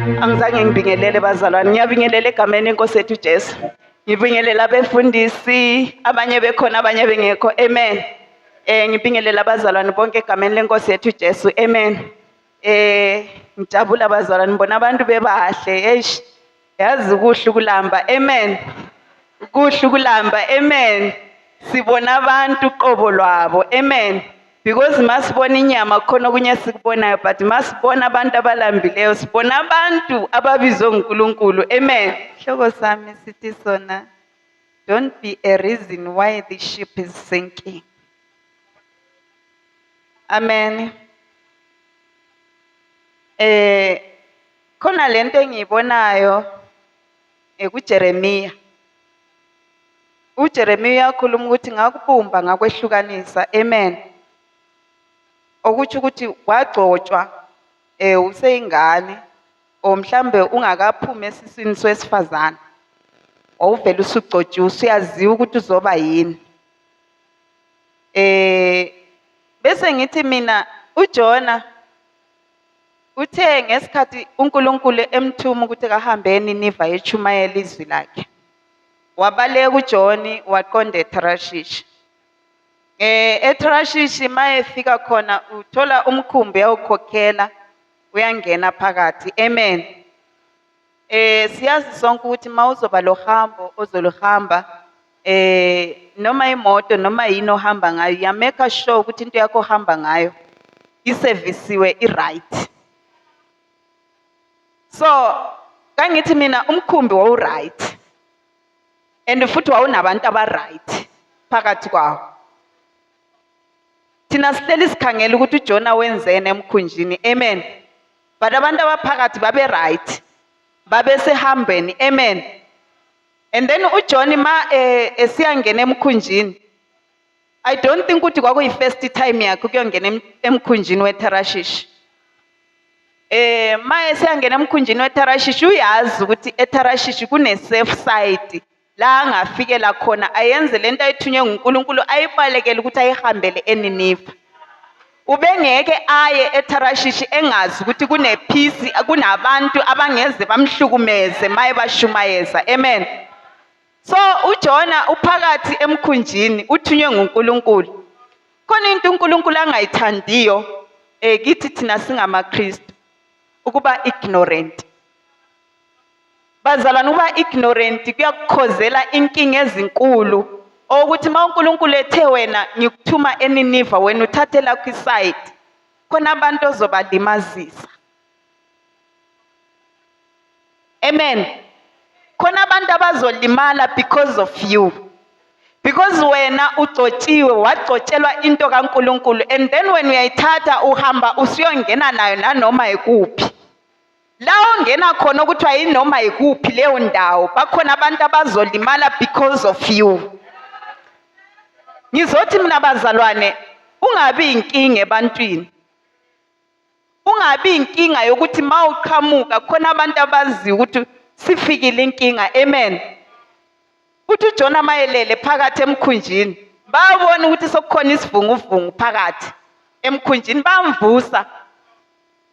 Angizange ngibingelele bazalwane, ngiyabingelela egameni enkosi ethu Jesu. Ngibingelela abefundisi, abanye bekhona abanye bengekho. Amen. Eh ngibingelela abazalwane bonke egameni lenkosi yethu Jesu. Amen. Eh ngijabula abazalwane ngibona abantu bebahle. Eish. Yazi kuhle ukulamba. Amen. Kuhle ukulamba. Amen. Sibona abantu qobo lwabo. Amen. because masibona inyama kukhona okunye esikubonayo but masibona abantu abalambileyo sibona abantu ababizwe nguNkulunkulu amen hloko sami sithi sona don't be a reason why the ship is sinking amen eh khona lento engiyibonayo ngekuJeremiya. UJeremiya uyakhuluma ukuthi ngakubumba ngakwehlukanisa. Amen. Okutsho ukuthi wagcotshwa eh useyingane or mhlambe ungakaphumi esiswini sowesifazane. Wawuvele usugcotshiwe usuyaziwa ukuthi uzoba yini. Eh bese ngithi mina uJona Kuthe ngesikhathi uNkulunkulu emthuma ukuthi kahambe eNiniva echumayela izwi lakhe. Wabaleka uJoni waqonda eTharashishi. Eh eTharashishi mayefika khona uthola umkhumbi awukhokhela uyangena phakathi. Amen. Eh siyazi sonke ukuthi mawuzoba lohambo ozoluhamba eh noma imoto noma yini ohamba ngayo ya make sure ukuthi into yakho ohamba ngayo isevisiwe i-right. So kangithi mina umkhumbi wawuright and futhi wawunabantu abaright phakathi kwawo. thina sihleli sikhangela ukuthi uJona wenzeni emkhunjini amen but abantu abaphakathi babe right babe sehambeni amen and then uJona ma eh, esiyangena emkhunjini I don't think ukuthi kwakuyi first time yakhe ukuyongena emkhunjini weTarashish eh maye siyangena emkhunjini weTarashish uyazi ukuthi eTarashish kune safe side La angafikela khona ayenze le nto ayithunywe nguNkulunkulu ayibalekele ukuthi ayihambele eNiniva. Ubengeke aye eTharashishi engazi ukuthi kunephisi, kunabantu abangeze bamhlukumeze maye bashumayeza. Amen. So uJona uphakathi emkhunjini uthunywe nguNkulunkulu. Khona into uNkulunkulu angayithandiyo eh kithi thina singamaKristu ukuba ignorant. Bazalwane ukuba ignorant kuyakukhozela inkinga ezinkulu okuthi uma uNkulunkulu ethe wena ngikuthuma eNiniva wena uthathe lakho isayidi khona abantu ozobalimazisa. Amen. Khona abantu abazolimala because of you. Because wena ugcotshiwe wagcotshelwa into kaNkulunkulu and then wena uyayithatha uhamba usuyongena nayo nanoma ikuphi. La ongena khona okuthiwa yinoma yikuphi leyo ndawo bakhona abantu abazolimala because of you. Ngizothi mina bazalwane ungabi inkinga ebantwini. Ungabi inkinga yokuthi mawuqhamuka khona abantu abaziyo ukuthi sifikile inkinga. Amen. Uthi uJona mayelele phakathi emkhunjini babona ukuthi sokukhona isivunguvungu phakathi emkhunjini bamvusa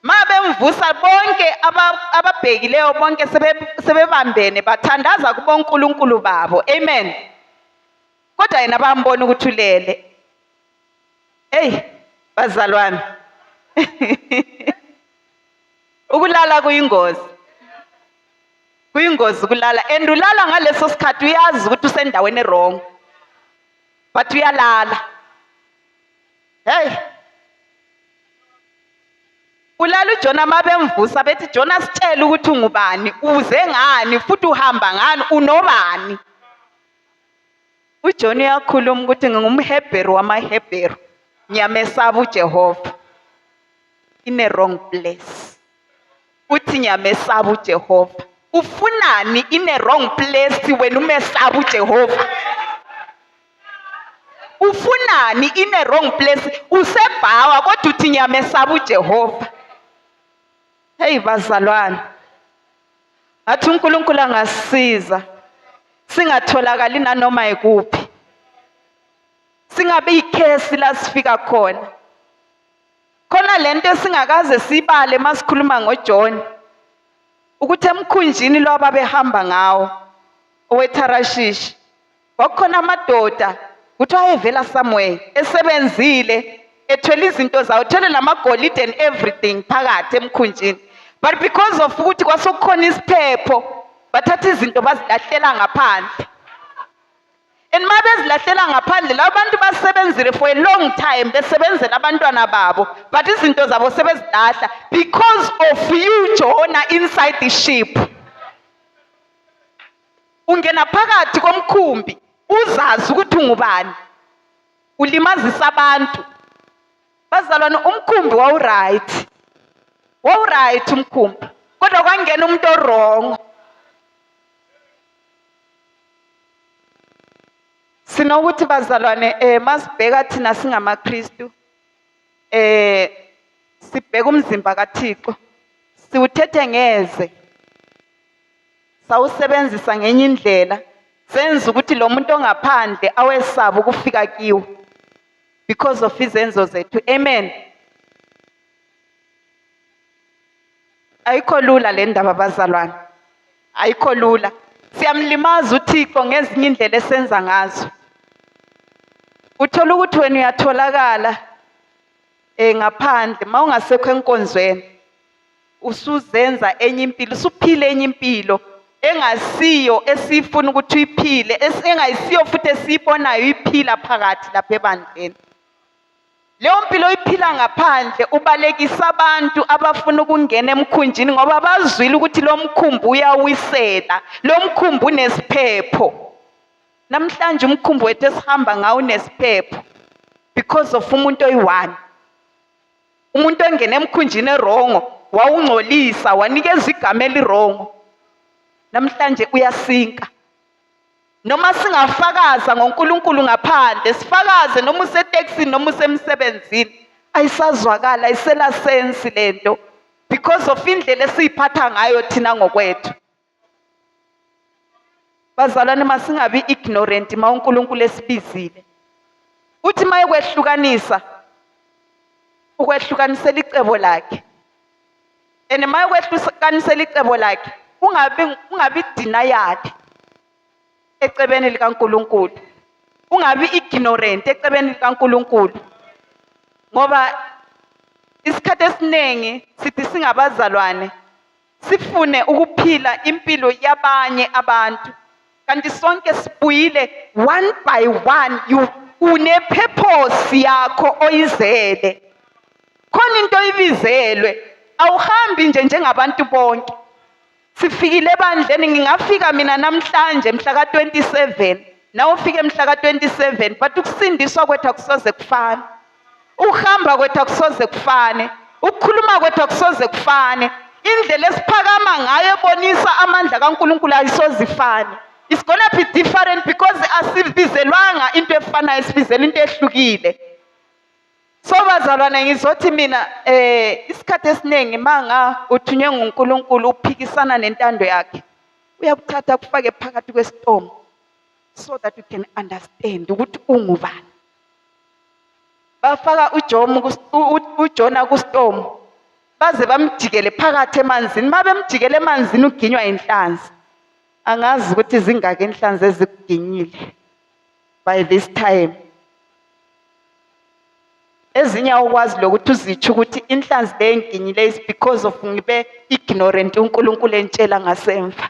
Mabemvusa bonke aba, ababhekileyo bonke sebe, sebebambene bathandaza kubonkulunkulu babo. Amen. Kodwa yena bambona ukuthi ulele. Hey, bazalwane. ukulala kuyingozi. Kuyingozi ukulala and ulala ngaleso sikhathi uyazi ukuthi usendaweni wrong. But uyalala. Hey. Ulala uJona mabemvusa bethi Jona sitshela ukuthi ungubani, uze ngani futhi uhamba ngani, unobani. UJona uyakhuluma ukuthi ngingumHebheru wamaHebheru. Ngiyamesaba uJehova. In a wrong place. uthi ngiyamesaba uJehova ufunani in a wrong place wena umesaba uJehova ufunani in a wrong place usebhawa kodwa uthi ngiyamesaba uJehova hey bazalwane athi uNkulunkulu angasisiza singatholakali nanoma ikuphi singabe ikhesi la sifika khona Khona lento esingakaze sibale masikhuluma ngoJohn ukuthi emkhunjini lo ababehamba ngawo oweTharashishi kwakukhona amadoda ukuthi ayevela somewhere esebenzile ethwele izinto zawo thwele namagolide and everything phakathi emkhunjini but because of ukuthi kwasekukhona isiphepho bathatha izinto bazilahlela ngaphandle and uma bezilahlela ngaphandle laba bantu basebenzile for a long time besebenzela abantwana babo but izinto zabo sebezilahla because of you jona inside the ship ungena phakathi komkhumbi uzazi ukuthi ungubani ulimazisa abantu bazalwane umkhumbi wawuright wawuright umkhumbi kodwa kwangena umuntu orongo Sinokuthi bazalwane eh masibheka thina singamaKristu eh sibheka umzimba kaThixo siwuthethe ngeze sawusebenzisa ngenye indlela senza ukuthi lo muntu ongaphandle awesaba ukufika kiwo because of izenzo zethu amen Ayikho lula le ndaba bazalwane, ayikho lula. Siyamlimaza uThixo ngezinye indlela esenza ngazo. Uthola ukuthi wena uyatholakala eh ngaphandle mawungasekho enkonzweni usuzenza enye impilo usuphile enye impilo engasiyo esifuna ukuthi uyiphile engayisiyo futhi esiyibonayo iphila phakathi lapha ebandleni Leyo mpilo oyiphila ngaphandle ubalekisa abantu abafuna ukungena emkhunjini ngoba bazwile ukuthi lo mkhumbi uyawisela, lo mkhumbi unesiphepho. Namhlanje umkhumbi wethu esihamba ngawo unesiphepho because of umuntu oyi-one. Umuntu ongena emkhunjini erongo wawungcolisa wanikeza igama elirongo. Namhlanje uyasinka Noma singafakaza ngoNkulunkulu ngaphandle, sifakaze noma usetekisini noma usemsebenzini, ayisazwakali, ayisela sensi le nto because of indlela esiyiphatha ngayo thina ngokwethu. Bazalwane masingabi ignorant uma uNkulunkulu esibizile. Uthi uma ekwehlukanisa ukwehlukanisela icebo lakhe. and mayokwehlukanisela icebo lakhe ungabi ungabi denial ecebeni likaNkuluNkulu ungabi ignorant ecebeni likaNkuluNkulu ngoba isikhathi esiningi sithi singabazalwane sifune ukuphila impilo yabanye abantu kanti sonke sibuyile one by one you unephephosi yakho oyizele khona into oyibizelwe awuhambi nje njengabantu bonke sifikile ebandleni ngingafika mina namhlanje mhla ka-27 nawe ufike mhla ka-27 but ukusindiswa kwethu akusoze kufana Ukuhamba kwethu akusoze kufane, ukukhuluma kwethu akusoze kufane, indlela esiphakama ngayo ebonisa amandla kaNkulunkulu ayisoze ifane. It's gonna be different because asibizelwanga into efanayo, sibizela into ehlukile. So bazalwane ngizothi mina eh isikhathi esiningi manga uthunywe nguNkulunkulu uphikisana nentando yakhe uyakuthatha kufake phakathi kwesitomo so that you can understand ukuthi ungubani bafaka uJomo uJona kuStomo baze bamjikele phakathi emanzini uma bemjikele emanzini uginywa inhlanzi angazi ukuthi zingaki inhlanzi ezikuginyile by this time ezinye awukwazi lokuthi uzitsho ukuthi inhlanzi le engiginyile is because of ngibe ignorant uNkulunkulu entshela ngasemva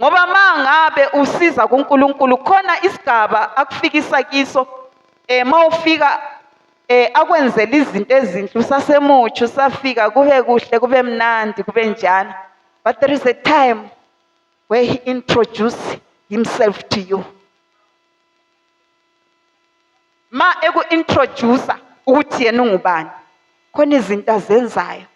Ngoba mangabe usiza kuNkulunkulu khona isigaba akufikisa kiso eh mawufika eh akwenzela izinto ezinhle usasemutsha usafika kube kuhle kube mnandi kube njalo but there is a time where he introduce himself to you ma eku-introduce ukuthi yena ungubani khona izinto azenzayo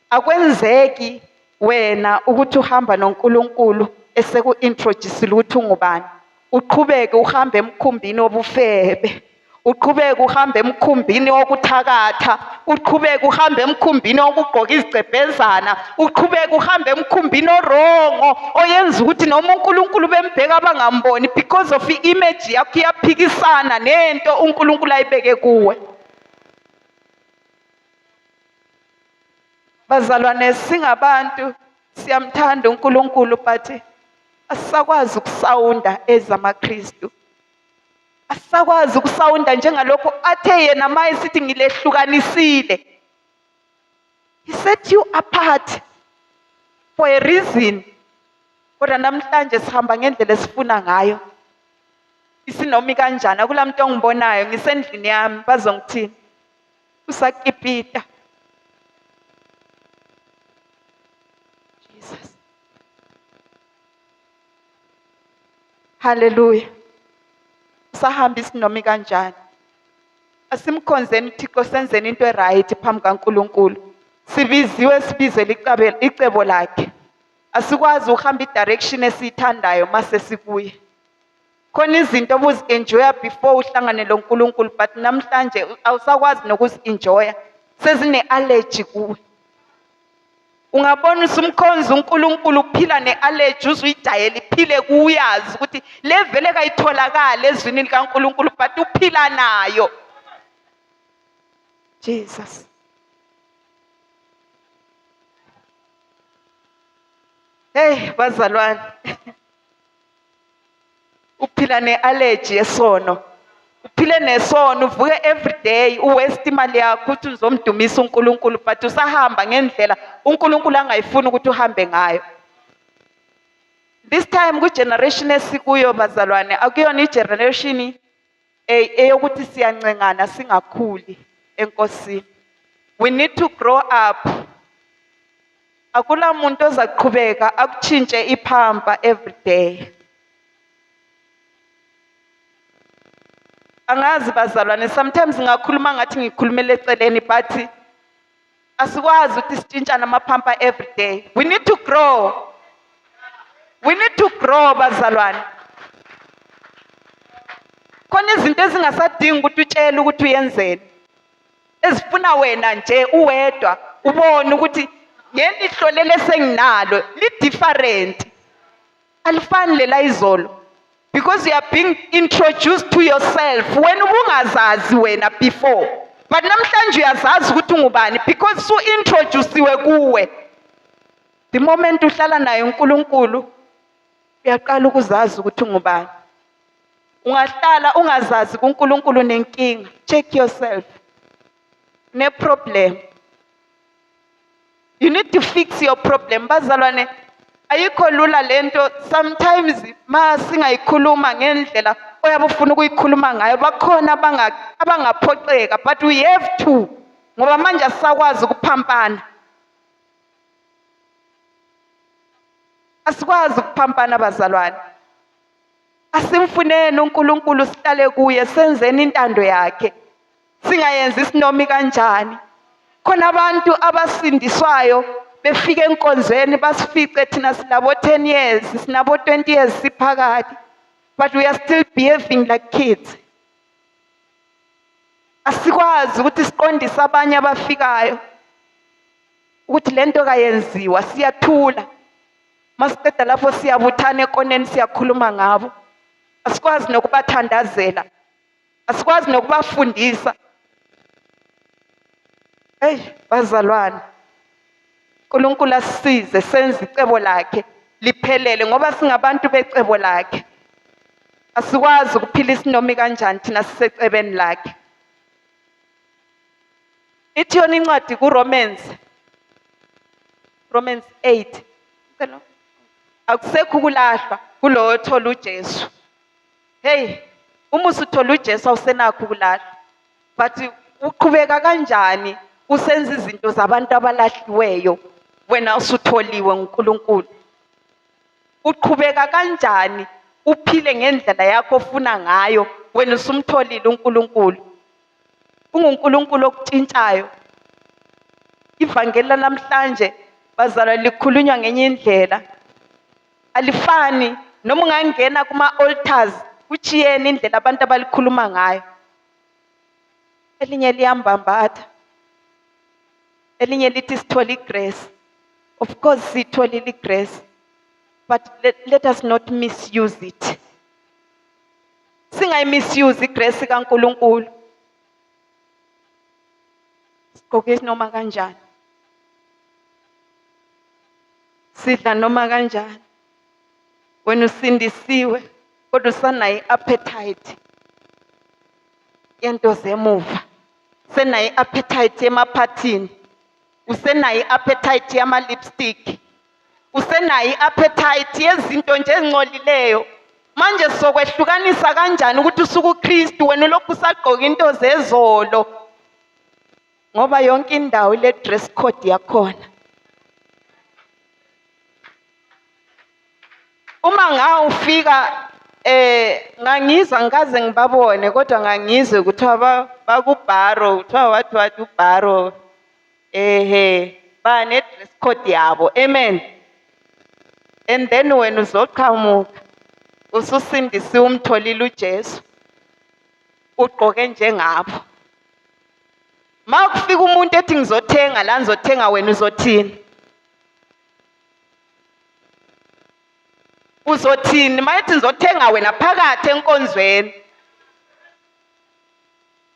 akwenzeki wena ukuthi uhamba noNkulunkulu eseku-introducile ukuthi ungubani uqhubeke uhambe emkhumbini wobufebe uqhubeke uhambe emkhumbini wokuthakatha uqhubeke uhambe emkhumbini okugqoka izicebhezana uqhubeke uhambe emkhumbini orongo oyenza ukuthi noma uNkulunkulu bembheka abangamboni because of i-image yakho iyaphikisana nento uNkulunkulu ayibeke kuwe bazalwane singabantu siyamthanda uNkulunkulu but asisakwazi ukusawunda ezamaKristu asisakwazi ukusawunda njengalokho athe yena uma esithi ngilehlukanisile he set you apart for a reason kodwa namhlanje sihamba ngendlela esifuna ngayo isinomi kanjani akula muntu ongibonayo ngisendlini yami bazongithini usakipita Haleluya. Sahamba isinomi kanjani? Asimkhonzeni uThixo senzeni into eright phambi kaNkuluNkulu. Sibiziwe sibizele icabe icebo lakhe. Asikwazi ukuhamba idirection esiyithandayo mase sikuye. Khona izinto obuzi-enjoya before uhlangane lo Nkulunkulu but namhlanje awusakwazi nokuzi-enjoya sezine-allergy kuwe. ungabona usumkhonza uNkulunkulu uphila ne-allergy uze uyidayele iphile kuyazi ukuthi le vele kayitholakali ezwini likaNkulunkulu but uphila nayo Jesus Hey bazalwane uphila ne-allergy yesono uphile nesono uvuke everyday uwaste imali yakho uthi uzomdumisa unkulunkulu but usahamba ngendlela unkulunkulu angayifuni ukuthi uhambe ngayo this time kwigeneration esikuyo bazalwane akuyona igeneration Ey eyokuthi siyancengana singakhuli enkosini. We need to grow up. Akula muntu ozaqhubeka akutshintshe iphampa every day. Angazi bazalwane sometimes ngakhuluma ngathi ngikhulumela eceleni but Asikwazi ukuthi sitshintshane amaphampa every day. We need to grow. We need to grow bazalwane. Khona izinto ezingasadingi ukuthi utshele ukuthi uyenzeni. Ezifuna wena nje uwedwa ubone ukuthi ngelihlolele senginalo li different. alifani lela izolo because you are being introduced to yourself wena ubungazazi wena before but namhlanje uyazazi ukuthi ungubani because su introduciwe kuwe the moment uhlala naye uNkulunkulu uyaqala ukuzazi ukuthi ungubani ungahlala ungazazi kuNkulunkulu nenkinga check yourself ne problem You need to fix your problem bazalwane. Ayikho lula lento sometimes ma singayikhuluma ngendlela oyabe ufuna ukuyikhuluma ngayo bakhona abanga abangaphoxeka but we have to ngoba manje asisakwazi ukuphampana. Asikwazi ukuphampana bazalwane. Asimfuneni uNkulunkulu sihlale kuye senzeni intando yakhe. singayenzi isinomi kanjani khona abantu abasindiswayo befika enkonzweni basifice thina sinabo 10 years sinabo 20 years siphakathi but we are still behaving like kids asikwazi ukuthi siqondise abanye abafikayo ukuthi lento kayenziwa siyathula masiqeda lapho siyabuthana ekoneni siyakhuluma ngabo asikwazi nokubathandazela asikwazi nokubafundisa eyi bazalwane unkulunkulu asisize senze icebo lakhe liphelele ngoba singabantu becebo lakhe asikwazi ukuphila isinomi kanjani thina sisecebeni lakhe ithi yona incwadi kuromans romans 8 akusekho ukulahlwa kulowo othola ujesu Hey, uma usuthola uJesu awusenakho ukulahla. But uqhubeka kanjani usenza izinto zabantu abalahliweyo wena usutholiwe nguNkulunkulu? Uqhubeka kanjani uphile ngendlela yakho ofuna ngayo wena usumtholile uNkulunkulu? UnguNkulunkulu okutshintshayo. Ivangeli lanamhlanje bazalwa likhulunywa ngenye indlela. alifani noma ungangena kuma-altars kuchiyene indlela abantu abalikhuluma ngayo elinye liyambambatha elinye lithi sithole igrace of course siyitholile igrace but let, let us not misuse it singayimisuse igrace kaNkuluNkulu sigqoke noma kanjani sidla noma kanjani wena usindisiwe kodwa usanayo i-appetite yento zemuva usenayo i-appetite yemaphathini usenayo i-appetite yama-lipstick usenayo i-appetite yezinto nje ezincolileyo manje sokwehlukanisa kanjani ukuthi usuke uKristu wena ulokhu usagqoka into zezolo ngoba yonke indawo ile dress code yakhona uma ngawufika eh ngangizwa ngikaze ngibabone kodwa ngangizwe kuthiwa bakubharo kuthiwa wathi wathi ubharo Ehhe bane dress code yabo. Amen. And then wena uzoqhamuka ususindisiwe umtholile uJesu. Ugqoke njengabo. Uma kufika umuntu ethi ngizothenga la ngizothenga wena uzothini? Uzothini uma ethi ngizothenga wena phakathi enkonzweni?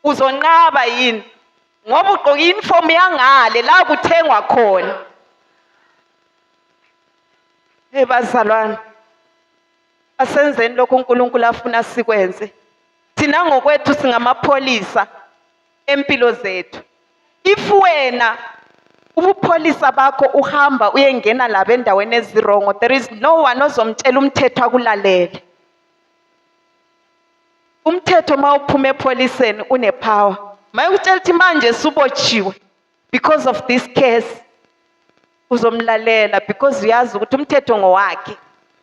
Uzonqaba yini? ngoba ugqoka i-uniform yangale la kuthengwa khona hey bazalwane asenzeni lokho uNkulunkulu afuna sikwenze thina ngokwethu singamapholisa empilo zethu if wena ubupholisa bakho uhamba uyengena laba endaweni ezirongo there is no one ozomtshela umthetho akulalele umthetho uma uphuma epholiseni unepower mayekutshela ukuthi manje subotshiwe because of this case uzomlalela because uyazi ukuthi umthetho ngowakhe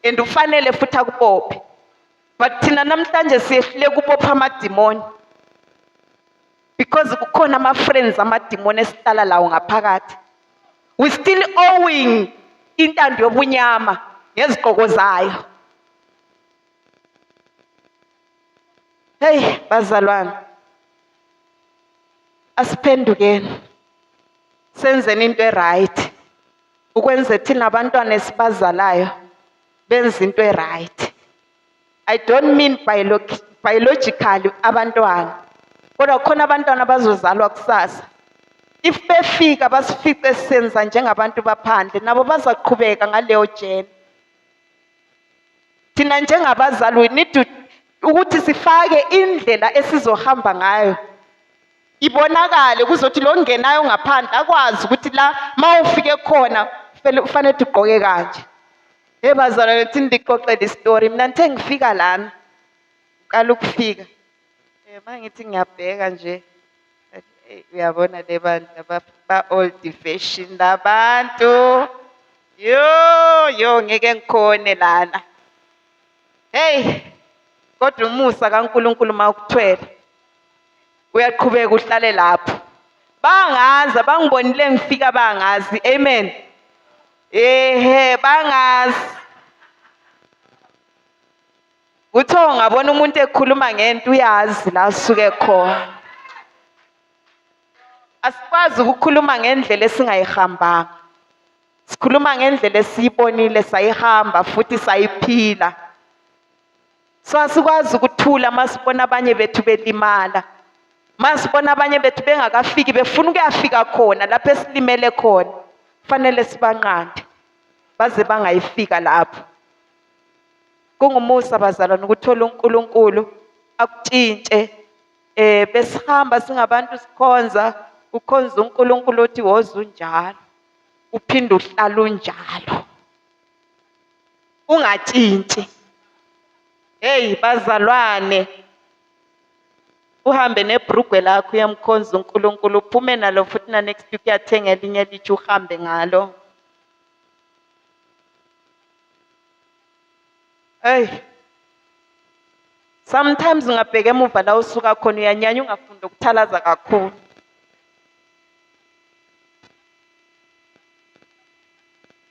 and ufanele futhi akubophe but thina namhlanje siyehluleka ukubopha amadimoni because kukhona ama-friends amadimoni esihlala lawo ngaphakathi we still owing intando yobunyama ngezigqoko zayo Hey bazalwane asiphendukeni senzeni into eright ukwenze thina abantwana esibazalayo benze into eright i don't mean biologically abantwana kodwa khona abantwana bazozalwa kusasa if befika basifice senza njengabantu baphandle nabo bazaqhubeka ngaleyo jeni thina njengabazali we need to ukuthi sifake indlela esizohamba ngayo ibonakale kuzothi lo ngenayo ngaphandle akwazi ukuthi la uma ufike khona kufanele ukuthi ugqoke kanje hey bazalwane thini ndixoxele isitori mina ngithe ngifika lana uqala ukufika Eh, uma ngithi ngiyabheka nje eh, uyabona le bandla ba-old fashion labantu yo yo ngeke ngikhone lana heyi kodwa umusa kankulunkulu uma ukuthwele uyaqhubeka uhlale lapho bangazi abangibonile ngifika bangazi amen ehe bangazi Uthe ungabona umuntu ekhuluma ngento uyazi la suke khona. Asikwazi ukukhuluma ngendlela esingayihambanga. Sikhuluma ngendlela esiyibonile sayihamba futhi sayiphila. So asikwazi ukuthula masibona abanye bethu belimala. Masibona abanye bethu bengakafiki befuna ukuyafika khona lapho esilimele khona. Kufanele sibanqande baze bangayifika lapho. Kungumusa bazalwane ukuthola uNkulunkulu akutshintshe eh besihamba singabantu sikhonza ukhonza uNkulunkulu othi woza unjalo uphinde uhlala unjalo ungatshintshi hey bazalwane uhambe nebrugwe lakho uyamkhonza uNkulunkulu uphume nalo futhi na next week uyathenga elinye lithi uhambe ngalo Hey. Sometimes ngabheka emuva la usuka khona uyanyanya ungafunda ukuthalaza kakhulu.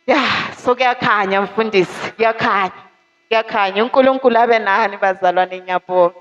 Ya, so kuyakhanya mfundisi, kuyakhanya. Kuyakhanya. UNkulunkulu abe nani bazalwane ngiyabonga.